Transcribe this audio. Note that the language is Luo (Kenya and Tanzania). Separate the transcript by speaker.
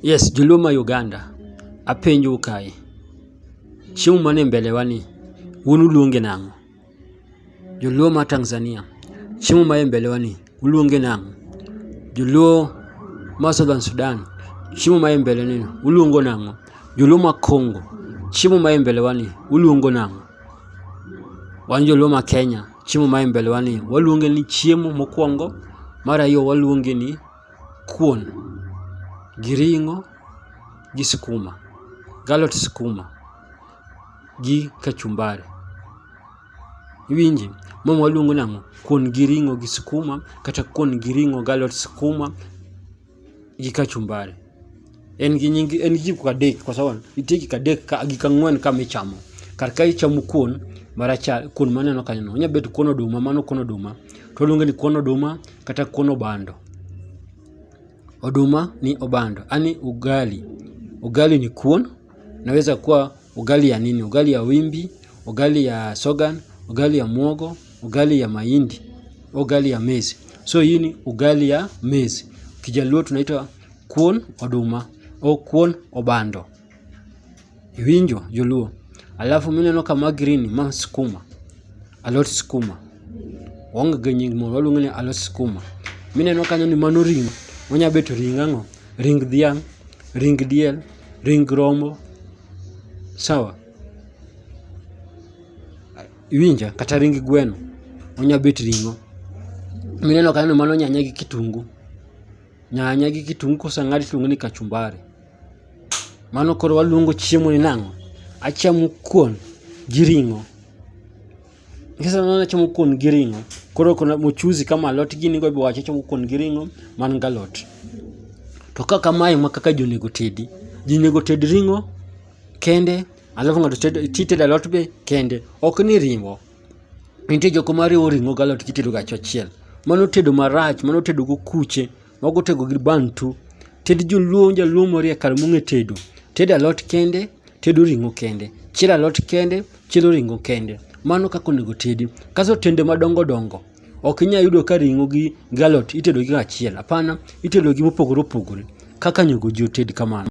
Speaker 1: Yes joluo ma Uganda, apenjou kae, chiemo man e mbele wa ni un uluonge nang'o? Joluo ma Tanzania, chiemo man e mbele wa ni uluonge nang'o? Joluo ma Southern Sudan, chiemo man e mbele ni uluongo nang'o? Joluo ma Congo, chiemo man e mbele wa ni uluongo nang'o? Wan joluo ma Kenya, chiemo man e mbele wa ni waluonge ni chiemo mokwongo, mar ariyo waluonge ni kuon gi ring'o gi skuma galot skuma gi kachumbari iwinji ma waluongo ni ang'o kuon gi ring'o gi skuma kata kuon gi ring'o galot skuma gi kachumbari. En gi nying en gi gik adek kwa sawa. Nitie gik adek ka gik ang'wen ka michamo. Kar ka ichamo kuon marachar, kuon maneno kanyo no. Onya bet kuon oduma, mano kuon oduma. To waluonge ni kuon oduma kata kuon obando. Oduma ni obando. Ani ugali. Ugali ni kuon. Naweza kuwa ugali ya nini? Ugali ya wimbi, ugali ya sogan, ugali ya muogo, ugali ya mahindi, ugali ya mezi. So hii ni ugali ya mezi. Kijaluo tunaita Kuon oduma, oh kuon obando. Iwinjo joluo. Alafu mineno ka ma green ma skuma, alot skuma. Waonge gi nying moro, waluonge ni alot skuma. Mineno kanyo ni mano ring', onya bet ring' ang'o? Ring dhiang', ring diel, ring rombo. Sawa? Iwinja? Kata ring gweno, onya bet ring'o. Mineno kanyo ni mano nyanya gi kitungu. Nyanya gi kitungu koseng'ad tiluongo ni kachumbari. Mano koro waluongo chiemo ni nang'o? Achamo kuon gi ring'o. Kiseneno ni achamo kuon gi ring'o, koro kona mchuzi kama alot gini go ibowacho achamo kuon gi ring'o man galot. To ka kamae ma kaka ji onego tedi, ji onego ted ring'o kende alafu ng'ato tedo titedo alot be kende, ok ni riwo. Nitie joko ma riwo ring'o gi alot gitedo ga achiel. Mano tedo marach, mano tedo gokuche, mago otego gi bantu. Tend joluo, jaluo moriek kare mong'e tedo. Tedo alot kende, tedo ring'o kende. Chielo alot kende, chielo ring'o kende. Mano kaka onego tedi. Kaso tende madongo dongo, ok inya yudo ka ring'o gi alot itedo gi achiel. Apana, itedo gi mopogore opogore. Kaka onego ji oted kamano.